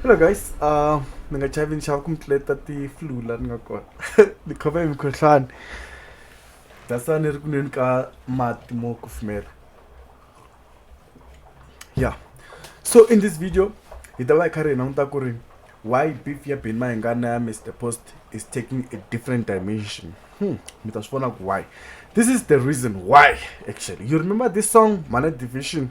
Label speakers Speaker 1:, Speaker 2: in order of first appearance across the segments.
Speaker 1: hello guys uh ni nga chavi nxava ku mi tluleta ti-flu la ni nga kona ni khoma hi mikhohlwani that's why ni ri ku nweni ka mati mo kufumela yeah so in this video hi ta va hi kha ri hi languta ku ri why beef ya beni mahingana ya mr post is taking a different dimension hmm. mi ta swi vona ku why this is the reason why actually you remember this song mana division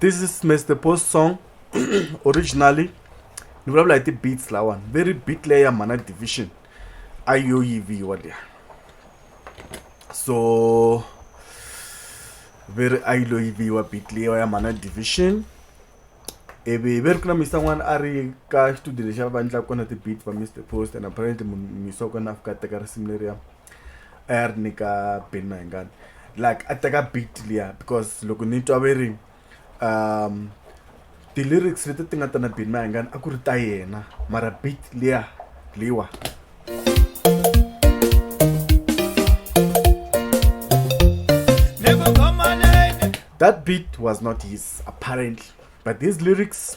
Speaker 1: this is mr post song originally ni vulavula hi ti-beats lawani very beat leyi ya mhana division a yo yiviwa liya so ve ri a yi lo yiviwa beat leyiwa ya mhana division ivi ve ri ku na misa n'wana a ri ka xitudio lexi a va endlaka kona ti-beat va mr post and apparently misa wa kona a fika a teka risimu leriya a ya ri nyika beni mahingani like a teka beat liya because loko ni twa ve ri um ti-lyrics leti ti nga ta na beni mahingani a ku ri ta yena mara beat liya liwa that beat was not his apparently but these lyrics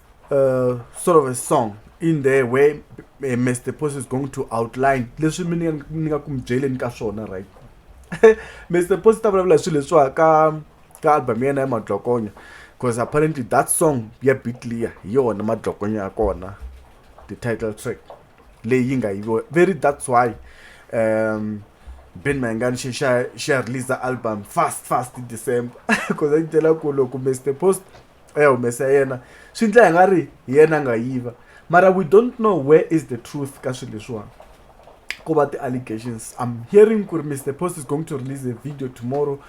Speaker 1: uh, sort of a song in there where uh, Mr. Post is going to outline leswi mi ni nga ku mi byeleni ka swona right Mr. Post ta vulavula hi swilo leswiwa ka ka album ya yena ya madlokonya because apparently that song ya bitlia hi yona madlokonya ya kona the title track leyi yi nga yiviwa very that's why um ben mayangani xi xa xa release album fast fast december because a yi tela ku loko mr post a ya humesa yena swi ndla hi nga ri hi yena a nga yiva mara we don't know where is the truth ka swilo leswiwani ko va ti-allegations i'm hearing ku ri mr post is going to release a video tomorrow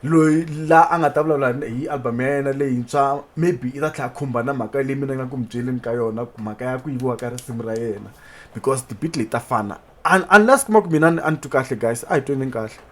Speaker 1: loyi la a nga ta vulavula hi album ya yena leyintshwa maybe i ta tlhela khumba na mhaka leyi mina nga ku mi byeleni ka yona mhaka ya ku yiviwa ka risimu ra yena because tibit leti ta fana unless kuma ku mina a ni twi kahle guys a hi tweneni kahle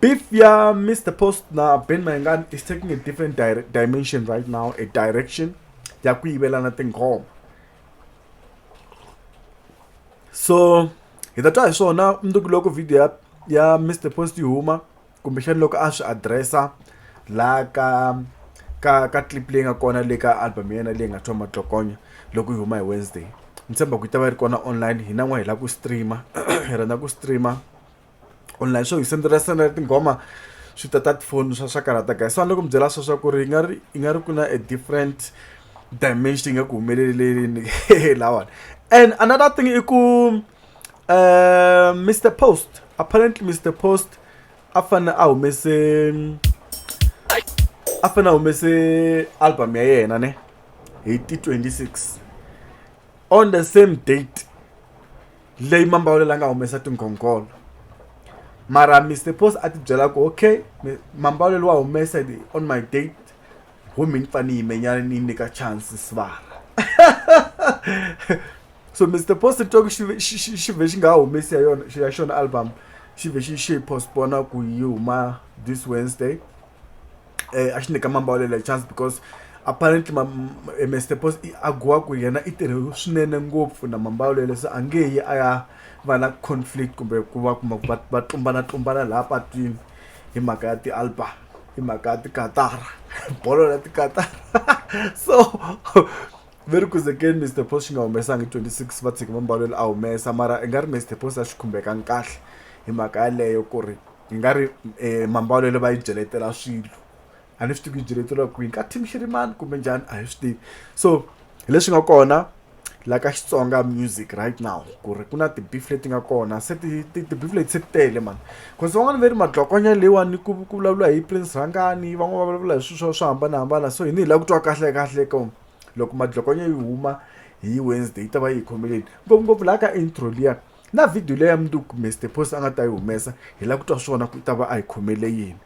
Speaker 1: Beef ya Mr. Post na Ben Mayengani is taking a different di dimension right now, a direction ya ku yivelana tinghoma. So, hi ta twa hi swona mundzuku loko video ya ya Mr. Post yi huma kumbexani loko a swi addressa la ka ka ka clip leyi nga kona le ka album ya yena leyi nga thoma matlokonya loko yi huma hi Wednesday. Ni tshemba ku yi ta va yi ri kona online hina n'wana hi lava ku streamer hi rhandza ku streamer online swo hi sendela sendela tinghoma swi ta ta tifoni swa swa karata guys so a ni loko mi byela swo swa ku ri yi nga ri yi nga ri ku na a different dimension yi nga ku humeleleleni lawani and another thing i ku uh, mr post apparently mr post a fanele a humese a fanele a humese album ya yena ne hi ti 26 on the same date leyi mambawulela a nga humesa tinghongholo mara Mister Post a tibyela ku okay mambawulelo wa humesa hi on my date ho me ni pfa ni yime nyana ni yi nyika chance sibala so Mister Post ni twa ku xi xi xi xi vhe xi nga ha humesi ya yona ya xona album xi vhe xi xi yi postpone ku yi huma this Wednesday. eh, a xi nyika mambawulele chance because apparently ma, eh, mr pos a gowa ku yena i tirhe swinene ngopfu na mambawulele se a nge yi a ya va na conflict kumbe ku va kuma va va tlumbana tlumbana laha patwini hi mhaka ya ti-album hi mhaka ya tikatara bolo la tikatara so very kuzekeni mr post xi nga humesangi 26 va tshiki mambalelo a humesa mara i nga ri mr post a xi khumbekanga kahle hi mhaka yaleyo ku ri hi nga ri um mambalelo va yi byeletela swilo a ni swi tivi ku yi byeleteliwa kwini ka team xirimani kumbe njhani a hi swi tivi so hi leswi nga kona la ka xitsonga music right now ku ri ku na ti-beef leti nga kona se ti-beef leti se ti tele mani cause van'wana ve ri madlokonya leyiwani ku ku vulavula hi prince rhangani van'wana va vulavula hi swilo swo swo hambanahambana so hi ni hi lava ku twa kahle kahle ko loko madlokonya yi huma hi wednesday yi ta va yi hi khomeleni ngopfungopfu laha ka intro liya Na video leyi ya mundzuku kumbe Stephos a nga ta yi humesa hi lava ku twa swona ku i ta va a hi khomele yini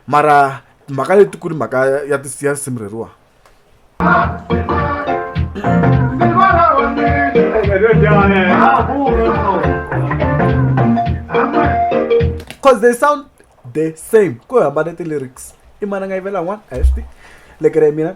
Speaker 1: mara mhaka leti ku ri mhaka ya ti ya risimu reriwa cause they sound the same ku hambane ti-lyrics i mana nga yivela one a hi swi tivi lekere ya mina